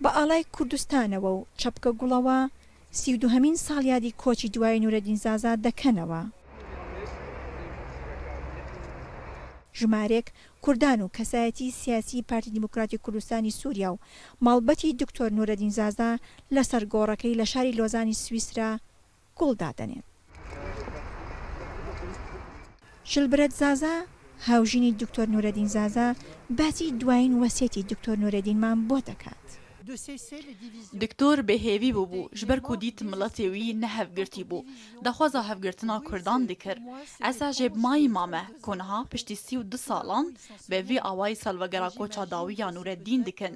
بە ئاڵای کوردستانەوە و چەپکە گوڵەوە سی و دووهەمین ساڵیادی کۆچی دوایی نورەدین زازا دەکەنەوە. ژمارێک کوردان و کەسایەتی سیاسی پارتی دیموکراتی کوردستانی سوریا و مەڵبەتی دکتۆر نورەدین زازا لەسەر گۆڕەکەی لە شاری لۆزانی سویسرا گوڵ دادەنێن. شلبرەت زازا، هاوژینی دکتۆر نورەدین زازا، باسی دوایین وەسیەتی دکتۆر نورەدینمان بۆ دەکات. دکتۆر بێ هێڤی بوبو، ژ بەر کو دیت ملەتێ وی نە هەڤگرتی بو، دەخوازا هەڤگرتنا کوردان دکر. ئەسا ژێ بمایی مامە، کو نها پشتی سی و دو سالان بە ڤی ئاوایی سەلڤەگەرا کۆچا داویا نورەدین دکن.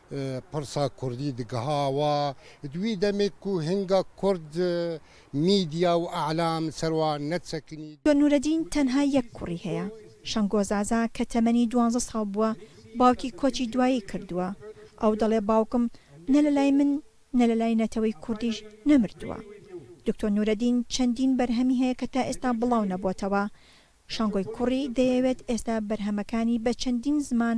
پڕسا کوردی دگها وا دوی دەمێک کو هنگا کورد میدیا و ئەعلام سەروا نەچەکنی. دۆ نورەدین تەنها یەک کوڕی هەیە، شەنگۆ زازا کە تەمەنی دوانزە ساڵ بووە باوکی کۆچی دوایی کردووە، ئەو دەڵێ باوکم نە لە لای من نە لە لای نەتەوەی کوردیش نەمردووە. دکتۆر نورەدین چەندین بەرهەمی هەیە کە تا ئێستا بڵاو نەبۆتەوە. شەنگۆی کوڕی دەیەوێت ئێستا بەرهەمەکانی بە چەندین زمان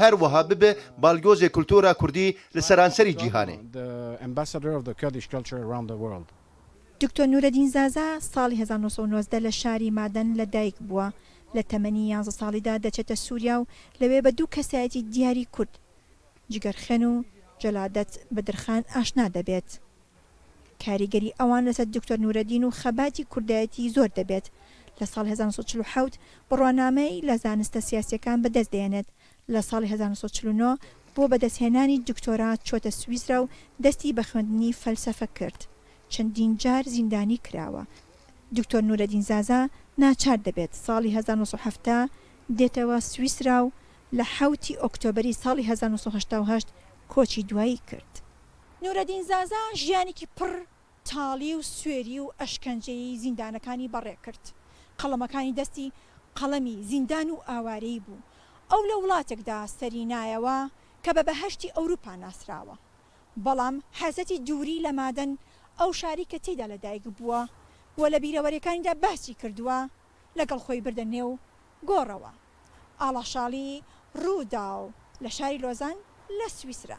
هەر وەها ببێ باڵیۆزی کولتوورا کوردی لە سەرانسەری جیهانێ. دکتۆر نورەدین زازا ساڵی هەزار و نۆ سەد و نۆزدە لە شاری مادەن لە دایک بووە، لە تەمەنی یانزە ساڵیدا دەچێتە سووریا و لەوێ بە دوو کەسایەتی دیاری کورد، جگەرخێن و جەلادەت بدرخان ئاشنا دەبێت. کاریگەری ئەوان لەسەر دکتۆر نورەدین و خەباتی کوردایەتی زۆر دەبێت. لە ساڵی هەزار و نۆ سەد و چل و حەوت بڕوانامەی لە زانستە سیاسییەکان بەدەست دەهێنێت، لە ساڵی هەزار و نۆ سەد و چل و نۆ بۆ بەدەستهێنانی دکتۆرا چووەتە سویسرا و دەستی بە خوێندنی فەلسەفە کرد. چەندین جار زیندانی کراوە. دکتۆر نورەدین زازا ناچار دەبێت ساڵی هەزار و نۆ سەد و حەفتا دێتەوە سویسرا و لە حەوتی ئۆکتۆبەری ساڵی هەزار و نۆ سەد و هەشتا و هەشت کۆچی دوایی کرد. نورەدین زازا ژیانێکی پڕ تاڵی و سوێری و ئەشکەنجەیی زیندانەکانی بەڕێ کرد. قەڵەمەکانی دەستی قەڵەمی زیندان و ئاوارەیی بوو. ئەو لە وڵاتێکدا سەری نایەوە کە بە بەهەشتی ئەوروپا ناسراوە. بەڵام حەزەتی دووری لە مادەن، ئەو شاری کە تێیدا لە دایک بووە و لە بیرەوەریەکانیدا بەهسی کردووە، لەگەڵ خۆی بردە نێو گۆڕەوە. ئاڵاشاڵی رووداو لە شاری لۆزان لە سویسرا.